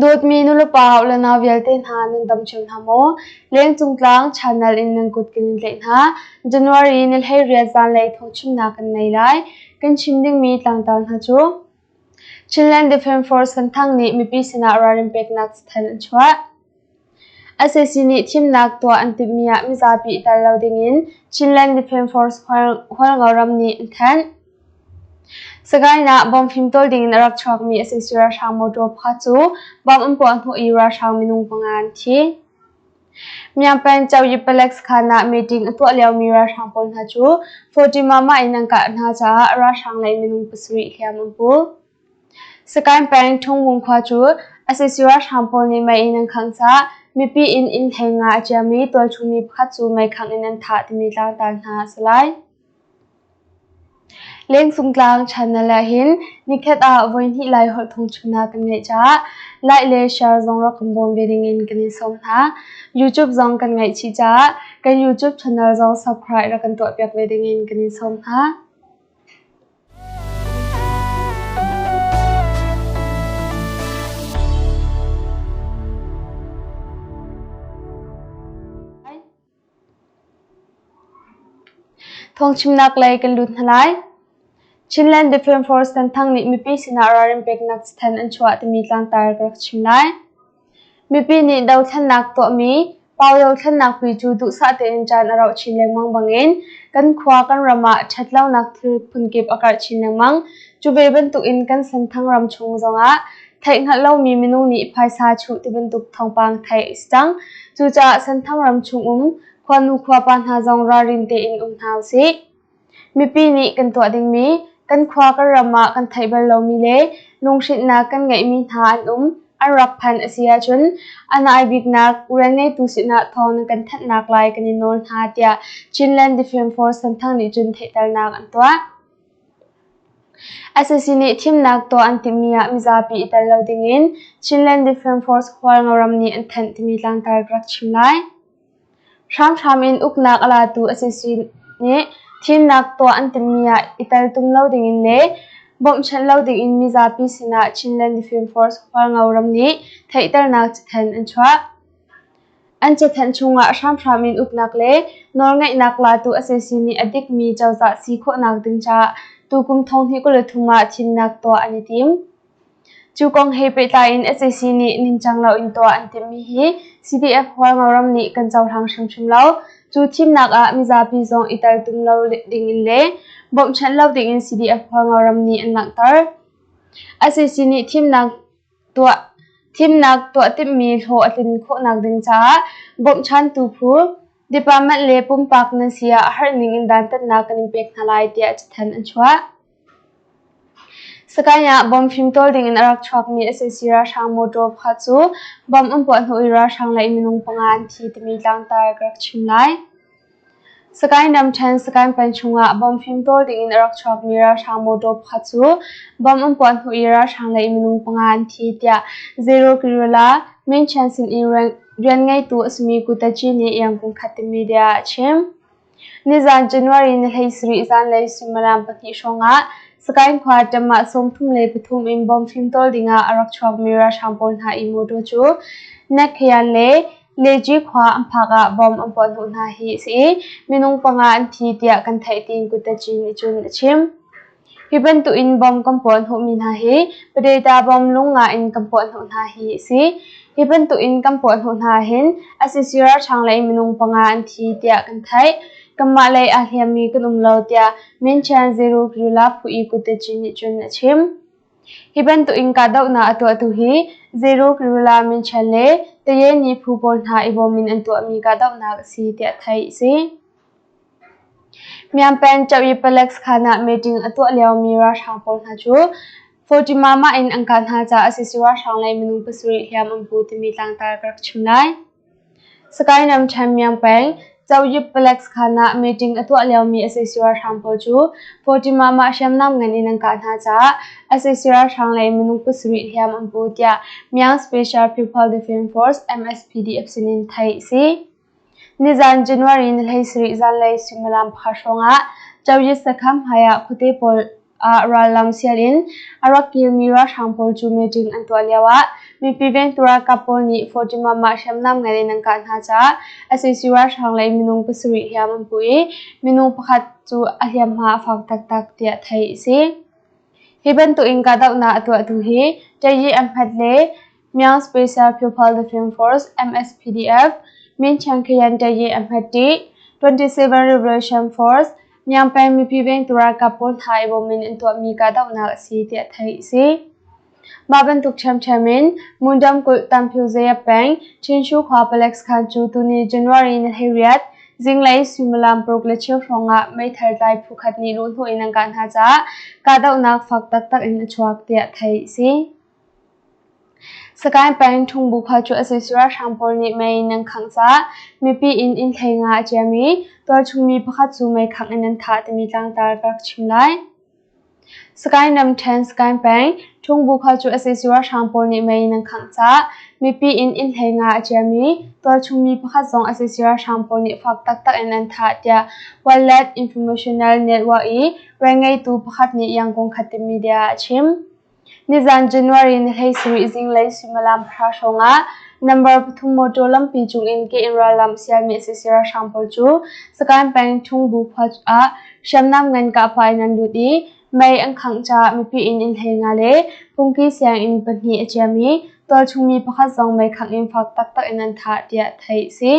Dawtmi nulepa haoh le nau vialte hna nan dam ṭheo hna maw? Lengcung tlang Chanal in nan kut kan in tlaih hna. January ni hlei rial zanlei thawngchimnak kan nei lai. Kan chim dingmi tlangtar hna cu Chinland Defence Force Santhang nih mipi sinah ralrin peknak cathanh an chuah. SAC nih thimnak tuah an timhmi ah mizapi tel lo dingin Chinland Defence Force Hualngo ram nih an thanh. Sagaing ah bomb fim tawl dingin a rak chuakmi SAC ralhrang motor pakhat cu bomb an puah hnawh i ralhrang minung panga an thi. Myapan Chaoyipalex khan ah meeting a tuah liomi ralhrang pawl hna cu Fatimama in an kah hna caah ralhrang lei minung pasarih hliam an pul. Sakaing peng Thungvung khua cu SAC ralhrang pawl nih mei in an khangsa, mipi in inn theng nga a ciam i tualchung mi pakhat cu mei khangh in an thah timi tlangtar hna a si lai. Lengcung tlang Channel ahhin nikhat ah voihnih lai holh thongchuhnak kan ngeih caah like le share zong rak kan bawm ve ding in kan i sawm hna. YouTube zong kan ngaihchih caah kan YouTube channel zong subscribe rak kan tuahpiak ve ding in kan i sawm hna. Thawngchimnak lei kan lut hna lai. Chinland Defence Force Tanthang nih mipi sinah ralrin peknak cathanh an chuah timi tlangtar ka rak chim lai. Mipi nih dothlennak tuahmi Pau-yo thlennak pi cu duhsah tein caan a rauh chin lengmang bangin kan khua kan ram ah ṭhatlonak thil phunkip a karh chin lengmang. Cu ve bantukin kan Senthang ram chung zongah Theih hngalh lomi minung nih phaisa chuh tibantuk thawngpang theih a si cang. Cucaah Senthang ram chung um khuanu khuapa hna zong ralrin tein um hna usih. Mipi nih kan tuah dingmi kan khua kan ram ah kan theih bal lomi le lunghrinhnak kan ngeihmi hna an um an rak phan a si ahcun an ai biknak rianngeitu sinah thawng na kan thanhnak lai kan i nawl hna tiah Chinland Defence Force Senthang nih cun theihternak an tuah. Sac nih thimnak tuah an timhmi ah mizapi i tel lo dingin Chinland Defence Force hual ngaram nih an thanh timi tlangtar ka rak chim lai. Hramhram in uknak a latu sac nih thimnak tuah an timhmi ah i tel tum lo dingin le bawmhchanh lo dingin mizapi sinah Chinland Defence Force hual ngaram nih theihternak cathanh an chuah. an cathanh chungah hramhram in uknak le nawlngaihnak latu a si simi a dikmi cozah si khawhnak ding caah tukum thonghni kul thum ah thimnak tuah an i tim. Cu kong he pehtlai in SAC nih ningcang loin tuah an timmi hi CDF Hualngoram nih kan cohlang hrimhrim lo. Cu thimnak ah mizapi zong i tel tum lo ding in le bawmhchanh lo ding in CDF Hualngoram nih an langhter. SAC nih thimnak Thimnak tuah timhmi hlawh a tlin khawhnak ding caah bawmhchantu phu, department le pumpak nan si ah harhning in dantatnak kan in pek hna lai tiah cathanh an chuah. Sakain ah bomb fimtawl ding in a rak chuakmi SAC ralhrang mawtaw pha cu bomb an puah hnu i ralhrang le minung panga an thi timi tlangtar ka rak chim lai. Sakae Namthen Sakae Pan chungah bomb fimtawl dingin a rak chuakmi ralhrang motor pakhat cu bomb an puah hnu i ralhrang lei minung panga an thi tiah Zero Kirula Minchen sin i rian ngeitu a simi Kutachi nih iang kum khat in media ah a chim. Nizan January ni hleisarih zanlei suimilam pahnih hrawngah Sakae khua Tamah sawmthum le pathum in bomb fimtawl dingah a rak chuakmi ralhrang pawl hna i motor cu Nakhayan le Neci khua an phak ah bomb an puah hnawh hna hi a si i minung panga an thi tiah kan theih tiin Kutachin nih cun a chim. Hi bantuk in bomb kan puah hnawhmi hna hi Padeta bomb lung nga in kan puah hnawh hna hi a si. Hi bantuk in kan puah hnawh hna hin ICC ralhrang lei minung panga an thi tiah kan theih. Kanmah lei aa hliammi kan um lo tiah Min Chan Zeru Kirila Phu i Kutachin nih cun a chim. Hi bantukin kahdohnak a tuahtu hi Zeiruk, Lula, Minṭhen le Tayeni phu pawl hna i bawm in an tuahmi kahdohnak a si tiah theih a si. Myampeng Chauk i Palek Sakhan ah meeting a tuah liomi ralhrang pawl hna cu Photimah-mah in an kah hna caah sac ralhrang le minung pasarih hliam an pu timi tlangtar ka rak chim lai. Sakainam ṭhenmiang peng Coyip Palace khan ah meeting a tuah liomi sac ralhrang pawl cu Fatimah mah hriamnam ngan in an kah hna caah sac ralhrang le minung pasarih hliam an pu tiah Myanmar Special People Defence Force MSPDF sinin theih a si. Nizan January ni hleisarih zanlei suimilam pakhat hrawngah Coyip sakham hmaiah khuate pawl ah rallang sialin a rak kilmi ralhrang pawl cu meeting an tuah lio ah mipi vengtu ralkap pawl nih Fatimah mah hriamnam ngai in an kah hna caah sac ralhrang le minung pasarih hliam an puh i minung pakhat cu a hliamhma a fak taktak tiah theih a si. Hi bantuk in kahdohnak a tuahtu hi Tayi Ahmed le Myanmar Special Pupil Defence Force (MSPDF) Min Chiang Khayan Taye a hmat ṭi, 27 Revolution Force Myanmar peng mipi vengtu ralkap pawl hna i bawm in an tuahmi kahdohnak a si tiah theih a si. Mah bantuk ṭhiamṭhiam in Mundam kulh Tamphu Zayat peng Chinshu khua Palax khan cu tuni January ni thei riat zinglei suimilam paruk le cheu hrawng ah meithal tlai phu khat nih luhhnawh in an kah hna caah kahdohnak fak taktak in a chuak tiah theih a si. Sagaing peng Thungbukhual cu a sui ralhrang pawl nih mei nan khangh cah mipi in innhlei nga a ciam i tualchungmi pakhat cu mei khangh in an thah timi tlangtar ka rak chim lai. Sagaing ramṭhen Sagaing peng Thungbukhual cu a sui ralhrang pawl nih mei nan khangh cah mipi in innhlei nga a ciam i tualchungmi pakhat zong a sui ralhrang pawl nih fak taktak in an thah tiah Wildlife Informational Network i rian ngeitu pakhat nih Yangon Khatim Media a chim. Nizan January ni hleisarih zinglei suimilam hra hrawngah number pathum motor lampi cungin ke-inn rallam sialmi sac ralhrang pawl cu Sakaing peng Thungbu khua ah hriamnam ngan kahpah in an lut i mei an khangh caah mipi in inn hlei nga le fungki sianginn pahnih a ciam i tualchung mi pakhat zong mei khangh in fak taktak in an thah tiah theih a si.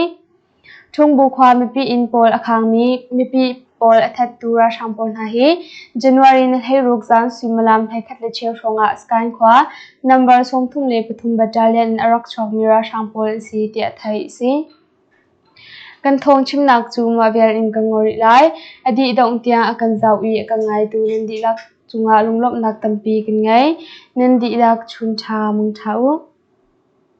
Ṭhungbu khua mipi inn pawl a khangmi mipi pawl a thattu ralhrang pawl hna hi January ni hleiruk zan suimilam hleikhat le cheu hrawngah Sagaing khua number sawmthum le pathum battalion a rak chuakmi ralhrang pawl an si tiah theih a si. Kan thawng chimnak cu mah vial in kan ngol rih lai. A dih dongh tiang a kan zauh i a kan ngaitu nan dihlak cungah lunglawmhnak tampi kan ngei. Nan dihlak chun ṭha mong ṭha u.